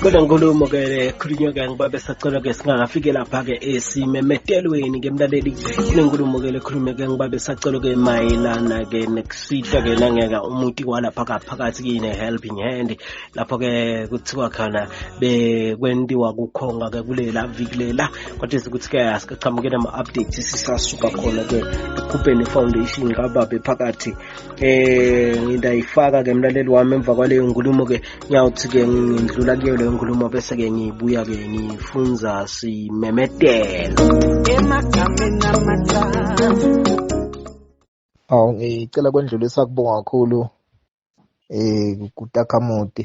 kodwa nkulumo ke le khulunywa ke ngiba besacela ke singakafike lapha ke esimemetelweni ke mlaleli kunenkulumo ke lekhulume ke ngiba besacela ke mayelana ke nekusihla ke nangeka umuti walapha kaphakathi kine helping hand lapho ke kuthiwa khona bekwentiwa kukhonga ke kulela vikulela kodwa ukuthi ke asikachamuke nama updates sisasuka khona ke ekhupheni foundation kababe phakathi eh ngidayifaka ke mlaleli wami emva kwaleyo nkulumo ke ngiyawuthi ke ngindlula kuyo leyo nkulumo bese ke ngibuya ke ngifunza simemetelo emagameni amathathu aw ngicela kwendlulisa kubonga kakhulu eh kutakamoti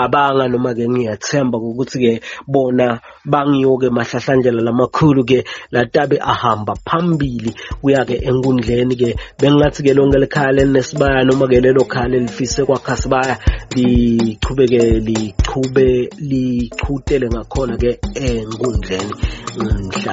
cabanga noma ke ngiyathemba ukuthi ke bona bangiyoke mahlahlandlela lamakhulu ke latabe ahamba phambili kuya ke enkundleni ke bengathi ke lonke likhaya lenesibaya noma ke lelo khaya lelifise kwakha sibaya liqhubeke liqhube liqhutele ngakhona ke enkundleni mhla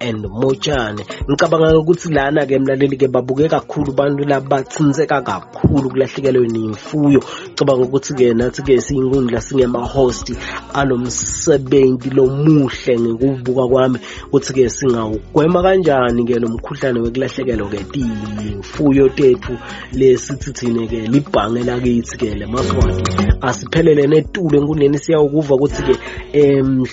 and motshane ngicabanga ukuthi lana ke mlaleli ke babuke kakhulu abantu labathinseka kakhulu kulahlekelwe nemfuyo ngicabanga ukuthi ke nathi ke siyinkundla singema host alomsebenzi lomuhle ngikubuka kwami ukuthi ke singawugwema kanjani ke lomkhuhlane wekulahlekelwa ke imfuyo tethu lesithi thina ke libhange lakithi ke lemaswati asiphelele netulo enkundleni siyawukuva ukuthi ke em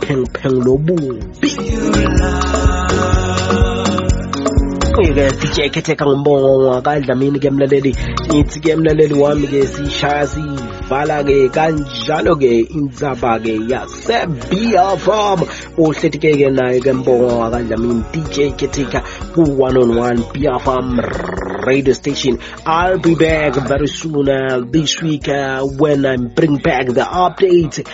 pheng pheng lobubi ke sitsheke khetheka ngombongo ngwakadlamini ke mlaleli ngithi ke mlaleli wami ke sishaya sivala ke kanjalo ke indzaba ke yasebiya farm uhleti ke ke naye ke mbongo ngwakadlamini dj khetheka ku-101 biya farm radio station. I'll be back very soon uh, this week uh, when I bring back the update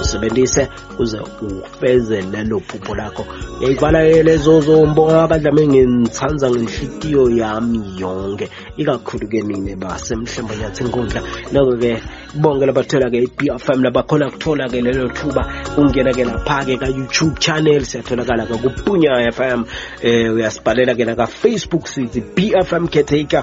usebenzise uze ufeze lelo phupho lakho ngiyayibalalela ezozombo abadlame ngithanda ngenhlikiyo yami yonke ikakhulu-ke nina basemhlembo nyathi inkundla noko-ke bonke labathola-ke i-b f m labakhona kuthola-ke lelo thuba ungena-ke lapha-ke ka-youtube channel siyatholakala-ke kupunya f m um uyasibhalela-ke nakafacebook sithi b f m caretaker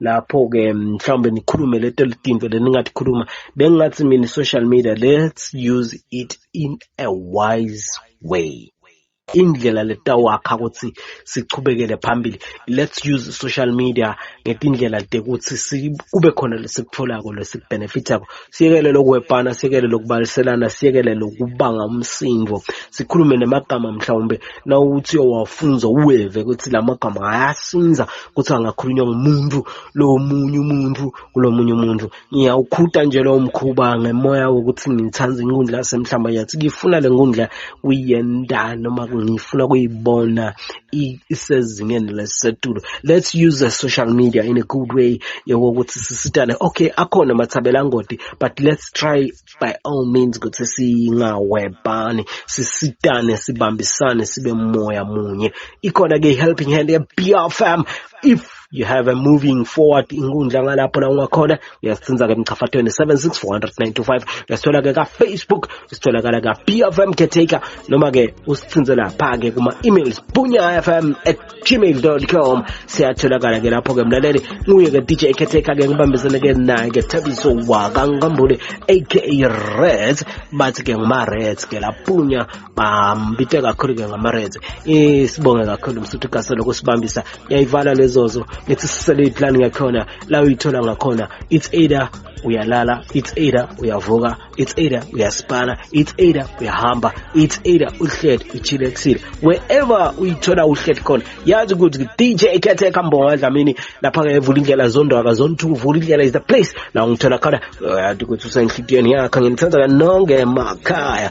lapho-ke mhlawumbe nikhulume leto tinto leningatikhuluma bengingathi mina i-social media let's use it in a wise way indlela letawakha ukuthi sichubekele phambili let's use social media ngetindlela tekuthi kube khona lesikutholako lesikubhenefithako siyekele lokuhwebhana siyekele lokubaliselana siyekele lokubanga umsindo sikhulume nemagama mhlawumbe nawuthi owafunza uweve ukuthi la magama ayasinza ukuthi angakhulunywa ngumuntu lowo munye umuntu kulo munye umuntu ngiyawukhuta nje lowo mkhuba ngemoya wokuthi ngithanda inkundla yasemhlamba yathi ngifuna le nkundla kuyenda noma ngifuna kuyibona isezingeni lesisetulu let's use the social media in a good way yokuthi sisitane okay akhona mathabela angodi but let's try by all means ukuthi singawebhani sisitane sibambisane sibe moya munye ikhona ke i-helping hand ye-bfm if you have a moving forward inkundla ngalapho la ungakhona uyasicinza ke mchafathweni 7640925 uyasithola ke ka Facebook usitholakala ka BFM caretaker noma ke usicinze lapha ke kuma emails bunyafm@gmail.com siyatholakala ke lapho ke mlaleli nguye ke DJ caretaker ke ngibambisene ke naye ke Thabiso wakangambule aka Reds bathi ke nguma Reds ke lapunya bambite kakhulu-ke ngamareds sibonge kakhulu msuthu gaselo kusibambisa yayivala lezozo lethi sisele iplani yakhona la uyithola ngakhona it's either uyalala it's either uyavuka it's either uyaspana it's either uyahamba it's either uhled uchile ekusile wherever uyithola uhled khona yazi ukuthi dj ekhetheka mbonga dlamini lapha-ke evula indlela zondwaka zontu uvula indlela is the place la ungithola khona yazi ukuthi usenhlitiyweni yakho nginithanda kanonge emakhaya